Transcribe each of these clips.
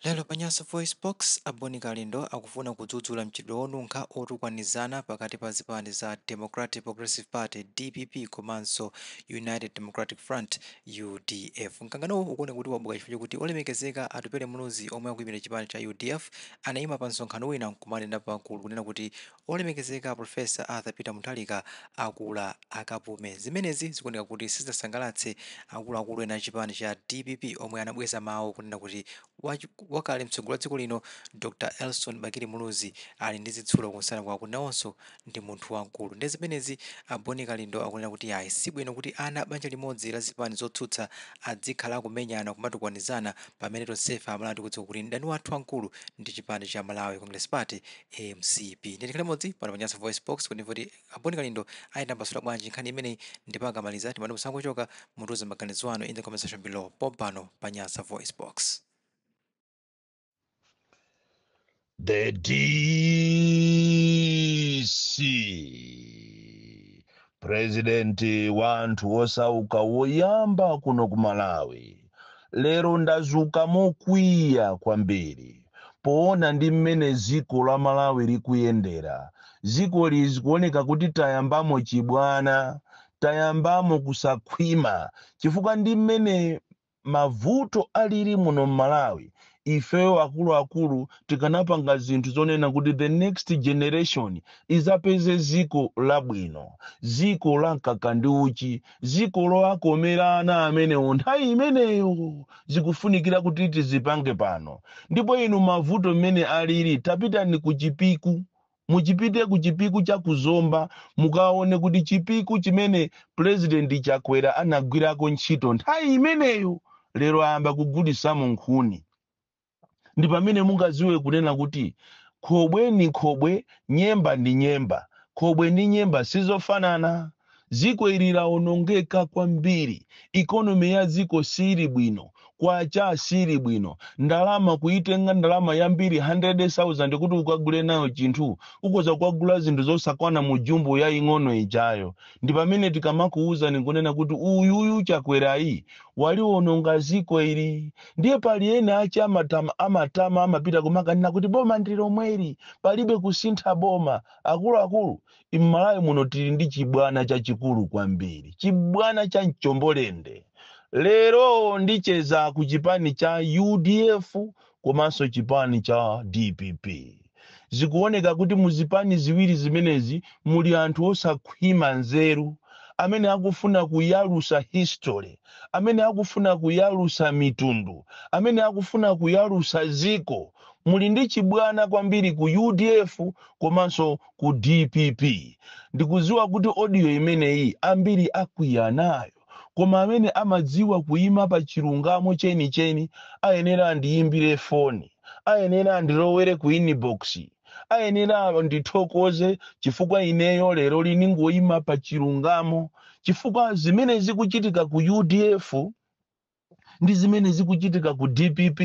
Lero pa Nyasa VoiceBox, a Boni Kalindo akufuna kudzudzula mchitidwe wonunkha wotukwanizana pakati pa zipani za Democratic Progressive Party, dpp, komanso United Democratic Front, udf. Mkanganowu ukuoneka kuti wabuka chifukwa chokuti olemekezeka Atupele Muluzi omwe akuimira chipani cha udf anaima pa msonkhano wina nkumanena pagulu kunena kuti Olemekezeka Prof. Arthur Peter Mutharika akula akapume. Zimenezi zikuoneka kuti sizinasangalatse akuluakulu ena a chipani cha dpp omwe anabweza mawu kunena kuti wakale mtsogoleri wa dziko lino Dr. Elson Bakili Muluzi ali ndi zitsulo kunsana kwawo kuti nawonso ndi munthu wamkulu. Ndiye zimenezi a Boni Kalindo akunena kuti ayi si bwino kuti ana a banja limodzi la zipani zotsutsa adzikhala akumenyana, kumatukwanizana pamene tonsefe Amalawi tikudziwa kuti mdani wathu wamkulu ndi chipani cha Malawi Congress Party, mcp ndiye tikhale limodzi pano pa Nyasa voice box kuti timve kuti aboni kalindo ayitambasula bwanji nkhani imeneyi ndipo akamaliza timati musangochoka mutiuze maganizo anu in the comment section below pompano pa Nyasa voice box The DC purezidenti wa anthu osauka woyamba kuno ku malawi lero ndazuka mokwiya kwambiri poona ndi mmene dziko la malawi likuyendera dzikoli zikuoneka kuti tayambamo chibwana tayambamo kusakhwima chifukwa ndi mmene Mavuto alili muno mmalawi ifeyo akuluakulu tikanapanga zinthu zonena kuti the next generation izapeze ziko labwino, ziko la mkaka ndi uchi, ziko lowakomera ana amenewo nthawi imeneyo zikufunikira kuti tizipange pano ndipo inu mavuto mmene alili tapitani ku chipiku Muchipite ku chipiku cha ku Zomba mukaone kuti chipiku chimene Pulezidenti Chakwera anagwirako ntchito nthawi imeneyo lero ayamba kugulitsamo nkhuni. Ndi pamene mungadziwe kunena kuti khobwe ndi khobwe, nyemba ndi nyemba. Khobwe ndi nyemba si zofanana. Dziko ili laonongeka kwambiri, economy ya dziko siili bwino, kwacha siili bwino, ndalama kuitenga ndalama yambiri 100,000 kuti ukagule nayo chinthu, ukhoza kukagula zinthu zosakwana mu jumbo yaing'ono ijayo. Ndi pamene tikamakuuzani n'kunena kuti uyuyu Chakwerayi waliononga dziko ili. Ndiye pali ena ache amatama amapita kumakanena kuti boma ndi lomweli, palibe kusintha boma. Akuluakulu, mmalawi muno tili ndi chibwana chachikulu kwambiri chibwana cha mchombolende lero ndicheza ku chipani cha udf komanso chipani cha dpp zikuoneka kuti muzipani ziwiri zimenezi muli anthu osakhwima nzeru amene akufuna kuyalusa history amene akufuna kuyalusa mitundu amene akufuna kuyalusa ziko muli ndi chibwana kwambiri ku udf komanso ku dpp ndikuziwa kuti audio imeneyi ambiri akwiya nayo koma amene amadziwa kuyima pa chilungamo chenicheni ayenera andiyimbire foni ayenera andilowere ku inbox ayenera andithokoze chifukwa ineyo lero lino ndingoyima pa chilungamo chifukwa zimene zikuchitika ku udf ndi zimene zikuchitika ku dpp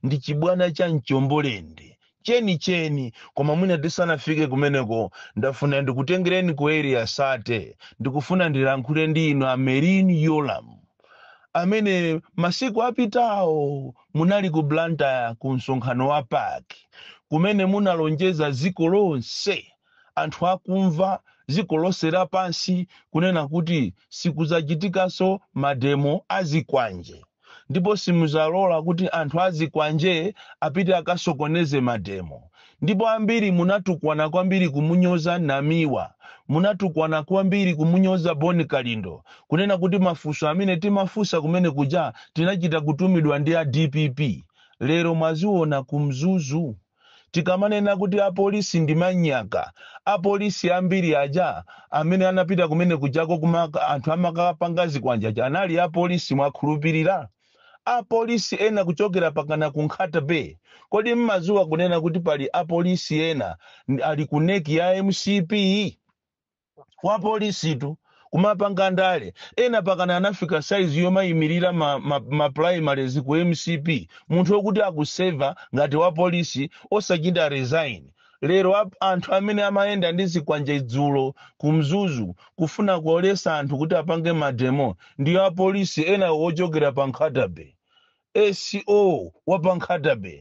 ndi chibwana cha mchombolende chenicheni koma mwina tisanafike kumeneko ndafuna ndikutengereni ku area thirty ndikufuna ndilankhule ndi inu a merlyne yolamu amene masiku apitawo munali ku blantyre ku msonkhano wa pac kumene munalonjeza dziko lonse anthu akumva dziko lonse lapansi kunena kuti sikudzachitikanso mademo azikwanje ndipo simuzalola kuti anthu azikwanje apite akasokoneze mademo ndipo ambiri munatukwana kwambiri kumunyoza namiwa munatukwana kwambiri kumunyoza bon kalindo kunena kuti mafunso amene timafunsa kumene kuja tinachita kutumidwa ndi a dpp lero mwaziona ku mzuzu Tikamanena kuti apolisi ndi manyaka, apolisi ambiri aja amene anapita kumene kujako kuma anthu amakapanga zikwanje aja anali apolisi, mwakhulupirira? Apolisi ena kuchokera pakana ku Nkhata Bay, kodi mmaziwa kunena kuti pali apolisi ena ali ku nec ya mcp? wa polisitu kumapanga ndale ena pakana anafika size yomayimirira ma, ma, ma primaries ku mcp munthu wokuti akuseva ngati wa polisi osachita resign lero ap- anthu amene amayenda ndi zikwanje dzulo ku mzuzu kufuna kuwalesa anthu kuti apange mademo ndi apolisi ena wochokera pa nkhata bay sco wa pa nkhata bay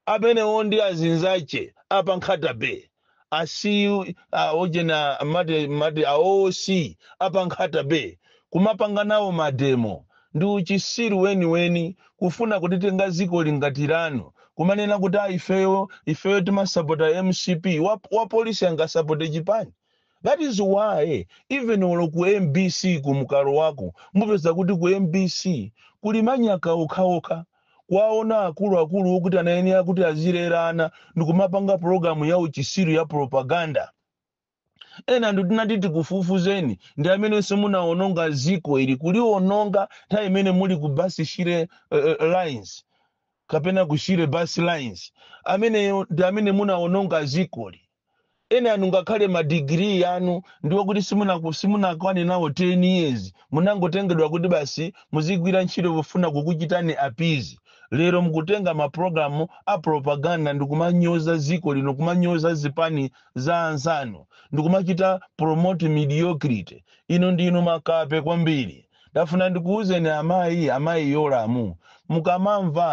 Amenewo ndi azinzache a pa Nkhata Bay. A CO, a ujeni amati, amati a OC a pa Nkhata Bay. Kumapanga nawo mademo. Ndi uchisiru weniweni. Kufuna kulitenga zikoli ngati lanu. Kumanena kuti a ifeyo, ifeyo timasapota mcp. Wa, wa polisi angasapote chipani? That is why even olo ku mbc ku mukalowako mupeza kuti ku mbc kuli manyaka okhaokha. kuwaona akulu akulu okuti anayenera kuti azilera ana ndikumapanga pulogalamu ya uchisiru ya propaganda ena anu tinati tikufufuzeni ndi amenenso munawononga ziko ili kuliwononga nthawi imene muli ku basi shire uh, lines kapena kushire bus lines ameneyo ndi amene munawononga zikoli enanu ngakhale ma degree anu ndi wokuti simunaku- simunakwane nawo 10 years munangotengedwa kuti basi muzigwira ntchito pofuna kukuchitani appease lero mukutenga mapulogalamu a propaganda ndikumanyoza ziko lino kumanyoza zipani za anzanu ndikumachita promote mediocrity inu ndinu makape kwambiri Ndafuna ndikuuzeni amayi, amayi Yolamu, mukamamva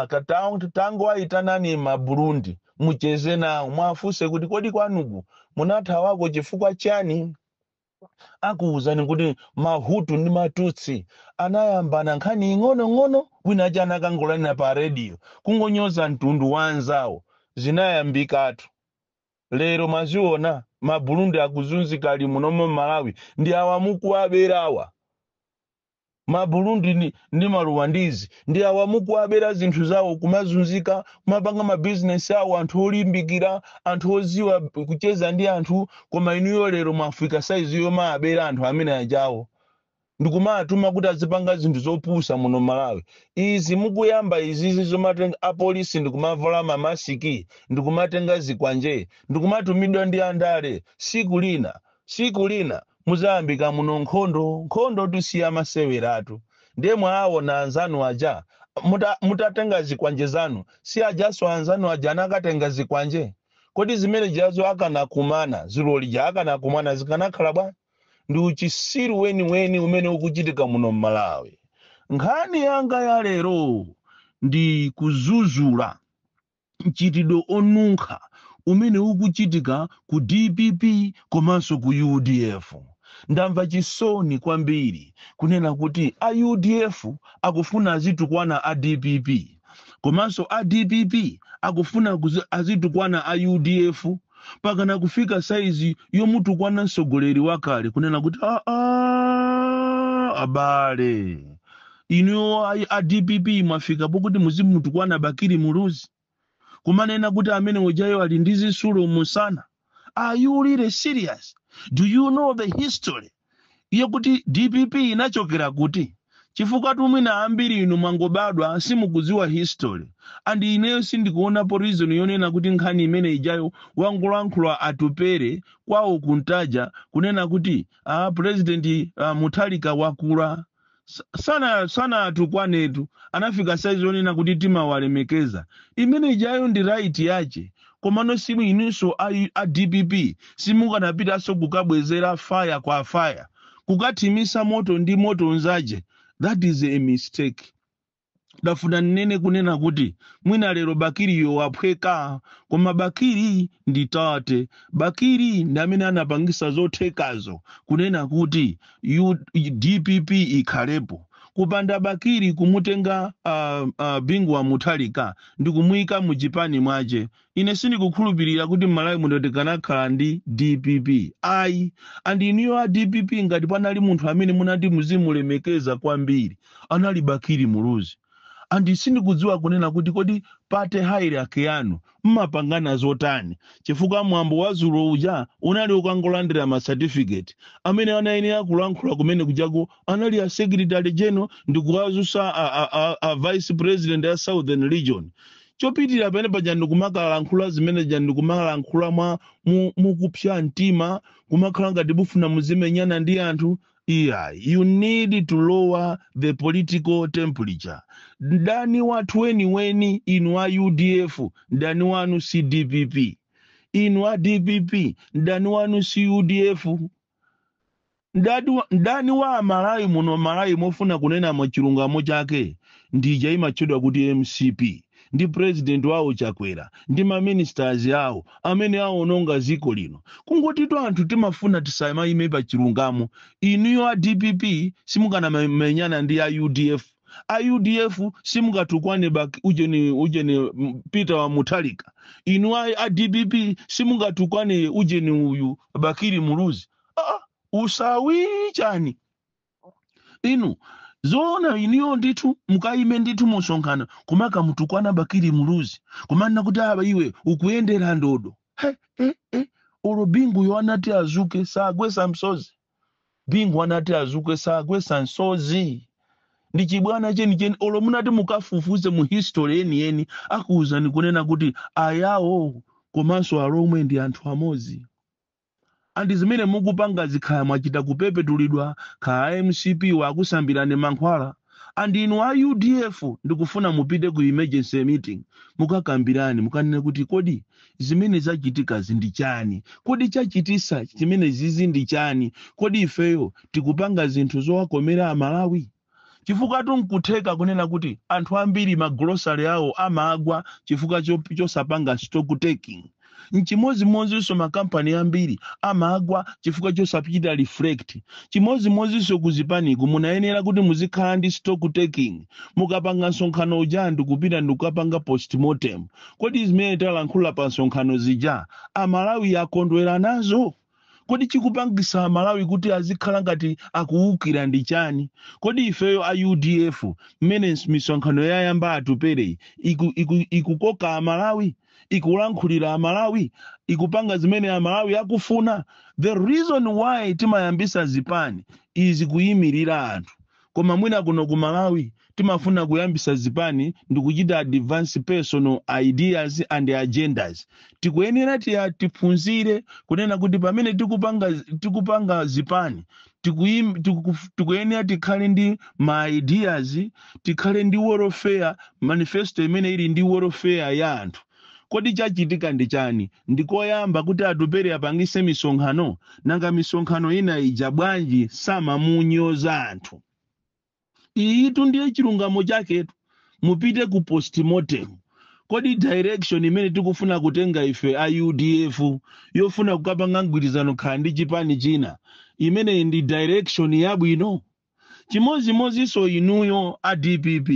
tangowayitanani ma Burundi mucheze nawo muwafunse kuti kodi kwanuku munathawako chifukwa chani? Akuuzani kuti ma Hutu ndi ma Tutsi anayambana nkhani ing'onong'ono wina aja anakangolanila pa radio kungonyoza mtundu wa anzawo zinayambikatu. lero mwaziona ma burundi akuzunzika ali munomo malawi ndi awa mukuwaberawa ma burundi ndi, ndi maruwandizi ndi awa mukuwabera zinthu zawo kumazunzika kumapanga mabizinesi awo anthu olimbikira anthu oziwa kucheza ndi anthu koma inuyo lero mwafika saizi yomabera anthu amene ajawo ndikumatuma kuti azipanga zinthu zopusa muno malawi izi mukuyamba izizi zomatenga apolisi ndikumavala mamasiki ndikumatenga zikwanje ndikumatumidwa ndi andale siku lina siku lina muzayambika muno nkhondo nkhondotu si ya maseweratu ndiye mwaawona anzanu aja muta- mutatenga zikwanje zanu si ajaso anzanu aja anakatenga zikwanje kodi zimene zijazo akanakumana zulo lija akanakumana zikanakhala bwa ndi uchisiru weniweni umene ukuchitika muno m'malawi nkhani yanga ya lero ndi kuzuzula mchitidwe onunkha umene ukuchitika ku dpp komanso ku udf ndamva chisoni kwambiri kunena kuti a udf akufuna azitukwana a dpp komanso a dpp akufuna kuzi- azitukwana a udf mpakana kufika saizi yomutukwana mtsogoleri wakale kunena kuti aa abale inuyo ayi a dpp mwafika pokuti muzimutukwana bakili muluzi kumanena kuti amene ujayo ali ndi zisulo musana are you really serious do you know the history yokuti dpp inachokera kuti chifukwatu mwina ambiri inu mwangobadwa simukuziwa history and ineyo sindikuonapo reason yonena kuti nkhani imene ijayo wangolankhula atupere kwawo ku ntaja kunena kuti ah, president a mutharika wakula Sa- sana sanatukwanetu anafika saizi yonena kuti timawalemekeza imene ijayo ndi right yace komano simu inunso a, a dpp simukanapitanso kukabwezera faya kwa faya kukathimisa moto ndi moto nzace that is a mistake ndafuna ninene kunena kuti mwina lero bakiriyo waphweka koma bakiri ndi tate bakiri ndi amene anapangisa zothekazo kunena kuti U- dpp ikhalepo kupanda bakiri kumutenga uh, uh, bingu wa muthalika ndi kumuyika mu chipani mwache Ine sindikukhulupirira kuti m'Malawi muno tikanakhala ndi dpp ayi and inuyo a dpp ngati panali munthu amene munati muzimulemekeza kwambiri anali Bakili Muluzi and sindikudziwa kunena kuti kodi party hierarchy yanu mmapangana zotani chifukwa mwambo wa dzulo uja unali ukangolandira ma certificate amene anayenera kulankhula kumene kujaku anali a secretary general ndikuwazusa a, a, a, a vice president ya southern region chopitirira pamene paja ndikumakalankhula zimene ja ndikumalankhula mwa mu- mukupsa mtima kumakhala ngati mufuna muzimenyana ndi anthu iyayi you need to lower the political temperature mdani wathu weniweni inu a udf mdani wanu si dpp inu a dpp mdani wanu si udf Mdadi wa- mdani wa amalawi muno malawi mofuna kunena mwachilungamo chake ndija imatchedwa kuti mcp ndi president wawo chakwera ndi maministers awo amene awononga dziko lino kungotitu anthu timafuna tisamayime pa chilungamo inuyo a dpp simukanamenyana ndi a udf a udf simungatukwane bak ujeni ujeni mm, peter wa muthalika inu a, a dpp simungatukwane ujeni uyu bakiri muluzi ah, usawi chani inu zoona inuyo ndithu mukayime ndithu musonkhano kumakamutukwana bakiri muluzi kumanena kuti aa iwe ukuyendera ndodo he, he, he. olo binguyo anati azuke sagwesa msozi Bingu anati azuke sagwesa msozi ndi chibwana chenicheni olo munati mukafufuze mu history yeniyeni akuuzani kunena kuti ayawo komanso alomwe ndi anthu amodzi and zimene mukupangazi kaya mwachita kupepetulidwa kaya mcp yakusambirani mankhwala and inu a udf ndikufuna mupite ku emergency meeting mukakambirane mukanene kuti kodi zimene zachitikazi ndi chani kodi chachitisa chimene zizi ndi chani kodi ifeyo tikupanga zinthu zowakomera amalawi chifukwa nkutheka kunena kuti anthu ambiri magulosale awo amagwa chifukwa cho- chosapanga stock taking nchimodzimodzinso makampani ambiri amagwa chifukwa chosachita reflect chimodzimodzinso ku zipaniku munayenera kuti muzikhala ndi stock taking mukapanga msonkhano uja ndikupita ndikukapanga postmortem kodi zimene talankhula pa msonkhano zija amalawi akondwera nazo Kodi chikupangisa amalawi kuti azikhala ngati akuwukira ndi chani? Kodi ifeyo a udf mmene misonkhano yayamba Atupele iku, iku, ikukoka amalawi? Ikulankhulira amalawi? Ikupanga zimene amalawi akufuna? The reason why timayambisa zipani is kuyimilira anthu. koma mwina kuno ku malawi timafuna kuyambisa zipani ndikuchita advance personal ideas and agendas tikuyenera tiya tiphunzire kunena kuti pamene tikupanga, tikupanga zipani tikuim- tiku- tikuyenera tikhale ndi ma ideas tikhale ndi welfare manifesto imene ili ndi welfare ya anthu Kodi chachitika ndi chani? Ndi koyamba kuti Atupele apangise misonkhano? Nanga misonkhano ina ija bwanji samamunyoza anthu? Iyitu ndiye chilungamo chaketu. Mupite ku postmortem. Kodi direction imene tikufuna kutenga ife a udf yofuna kukapanga mgwirizano kaya ndi chipani china, imeneyi ndi direction yabwino? chimodzimodzinso inuyo a dpp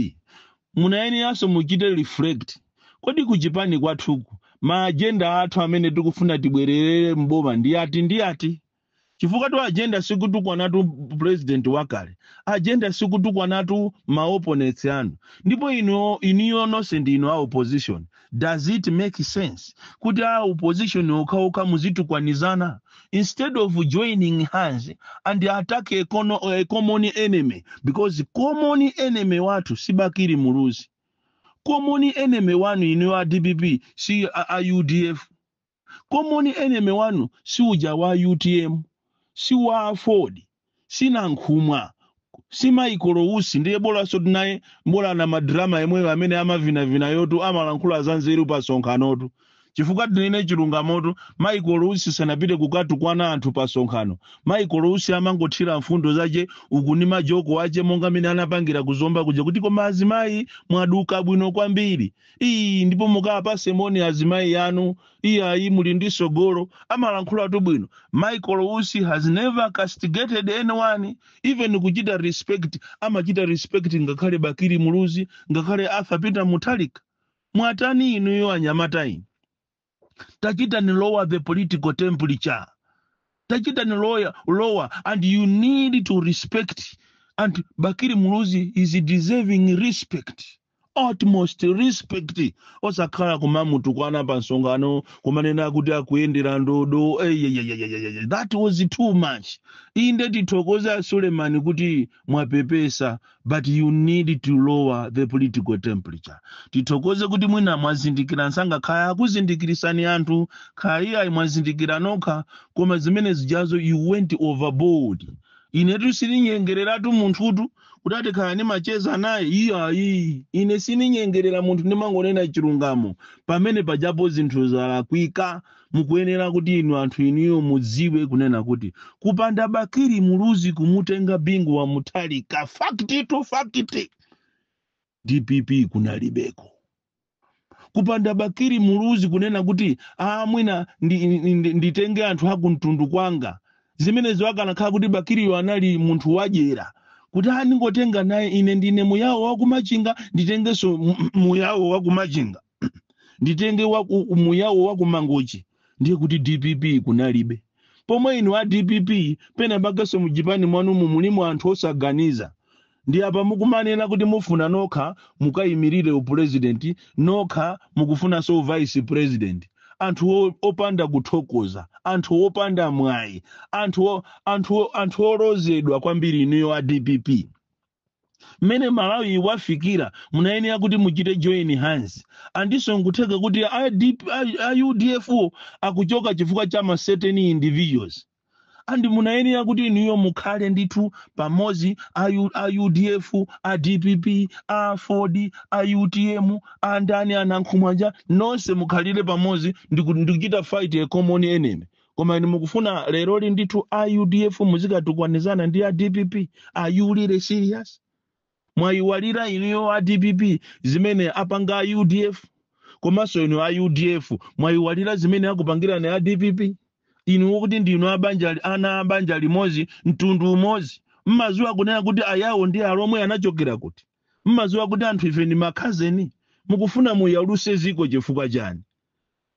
munayeneranso muchite reflect kodi kuchipani kwathuku ma agenda athu amene tikufuna tibwererere mboma ndi ati ndi ati chifukwa tu agenda sikutukwanatu president wakale agenda sikutukwanatu ma opponents anu ndipo inu inuyo nonse ndi inu a opposition does it make sense kuti a opposition okhaokha muzitukwanizana instead of joining hands and attack a, cono, a common enemy because common enemy wathu si bakili muluzi common enemy wanu inuyo a dpp si a, a udf common enemy wanu si uja wa utm si wa aford si nankhumwa si michael usi ndiye bolansoti naye mbola na madrama yemweyo amene amavinavina yotu amalankhula za nzeru pa sonkhanotu chifukwa tinene chilungamotu michael usi sanapite kukatukwana anthu pa sonkhano michael usi amangothira mfundo zache uku ni majoko ache monga mmene anapangira kuzomba kuja kuti koma azimayi mwaduka bwino kwambiri ii ndipo mukawapatse moni azimayi anu iyayi muli ndi sogolo amalankhulatu bwino michael usi has never castigated anyone even kuchita respect amachita respect ngakhale bakili muluzi ngakhale arthur peter mutharika mwatani inuyo anyamata inu tachitani lower the political temperature tachitani lower, lower and you need to respect and bakili muluzi is deserving respect utmost respect osakhala kumamutukwana pa msonkhano kumanena kuti akuyendera ndodo eyeyeyeyeye that was too much inde tithokoze a suleman kuti mwapepesa but you need to lower the political temperature tithokoze kuti mwina mwazindikira nsanga kaya akuzindikirisani anthu kaya ayi mwazindikira nokha koma zimene zijazo you went overboard inetu sininyengereratu munthutu kuti ati kaya nimacheza naye iyayi ine sininyengerera munthu ndimangonena chilungamo pamene pajapo zinthu zalakwika mukuyenera kuti inu anthu inuyo mudziwe kunena kuti kupanda bakili muluzi kumutenga bingu wa mutharika fact to fact dpp kunalibeko kupanda bakili muluzi kunena kuti a mwina nditenge anthu akumtundu kwanga zimenezo akanakhala kuti bakiliyo anali munthu wadyera kuti a ndingotenga naye ine ndine muyawo wakumachinga nditengenso mu- muyawo wakumachinga nditenge wa ku- muyawo wa kumangochi ndiye kuti dpp kunalibe pomwe inu a dpp pena pakenso muchipani mwanumu mulimo anthu osaganiza ndi apa mukumanena kuti mufuna nokha mukayimirire upulezidenti nokha mukufunanso uvice president anthu o- opanda kuthokoza anthu opanda mwayi anthu o- anthu o- anthu olozedwa kwambiri inuyo a dpp mmene malawi wafikira munayenera kuti muchite join hands andinso nkutheka kuti a DP a- a udf wo akuchoka chifukwa cha ma certain individuals and munayenera kuti inuyo mukhale ndithu pamodzi a U- a udf a dpp aford a utm a ndani a nankhumwa aja nonse mukhalire pamodzi ndi ku- ndi kuchita fight a common enemy koma inu mukufuna leroli ndithu a udf muzikatukwanizana ndi a dpp are you really serious mwayiwalira inuyo a dpp zimene apanga a udf komanso inu a udf mwayiwalira zimene akupangirani a dpp inu kuti ndinu abanja li- ana abanja limodzi mtundu umodzi mmaziwa kunena kuti ayawo ndi alomwe anachokera kuti mmaziwa kuti anthu ife ndi makhazeni mukufuna muyaluse ziko chifukwa chani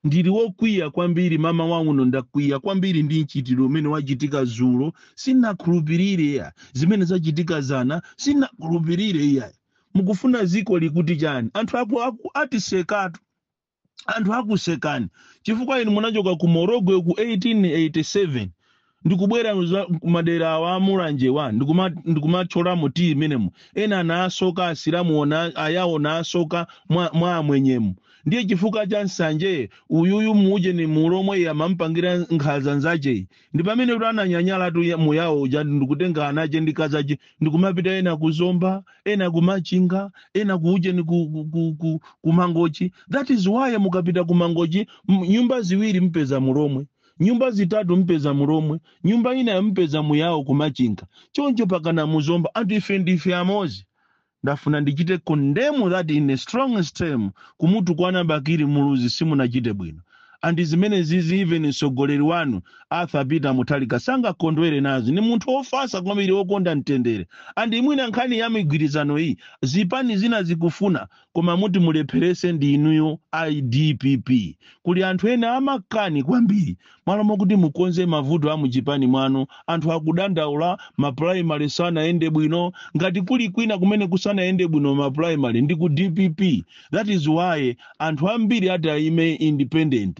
Ndili wokwiya kwambiri, mamawa uno ndakwiya kwambiri ndi mchitidwe umene wachitika dzulo, sinnakhulupirire iyayi, zimene zachitika dzana sinnakhulupirire iyayi. Mukufuna dziko likuti chani? Anthu aku, aku atisekatu, anthu akusekani chifukwa inu munachoka ku Morogwe ku 1887 ndikubwera za- kumadera awa amulanjewa ndikumatchyolamo tiyi imenemo ena anasoka asilamu ona- ayawo anasoka mwa, mwa amwenyemu ndiye chifukwa cha nsanje uyuyu mujeni mulomwe iye amampangira nkhaza nzacheyo ndi pamene kuti ananyanyala tu ya- muyawo uja ndikutenga anache ndi kazache ndikumapita ena kuzomba ena kumachinga ena kuujeni ku, ku, ku, ku, kumangochi that is why mukapita kumangochi m- nyumba ziwiri mpeza mulomwe nyumba zitatu mpeza mulomwe nyumba ina mpeza muyawo kumachinga choncho pakana muzomba anthu ife ndife amozi ndafuna ndichite condemn that in the strongest term kumutukwana bakili muluzi simunachite bwino andi zimene zizi even mtsogoleri wanu arthur peter mutharika sangakondwere nazo ni munthu wofasa kwambiri wokonda mtendere andi mwina nkhani ya migwirizano iyi zipani zina zikufuna koma muti mulepherese ndi inuyo a dpp kuli anthu ena amakani kwambiri malo mokuti mukonze mavuto a muchipani mwanu anthu akudandaula ma primary sanayende bwino ngati kuli kwina kumene kusanayende bwino ma primary ndi ku dpp that is why anthu ambiri ati aime independent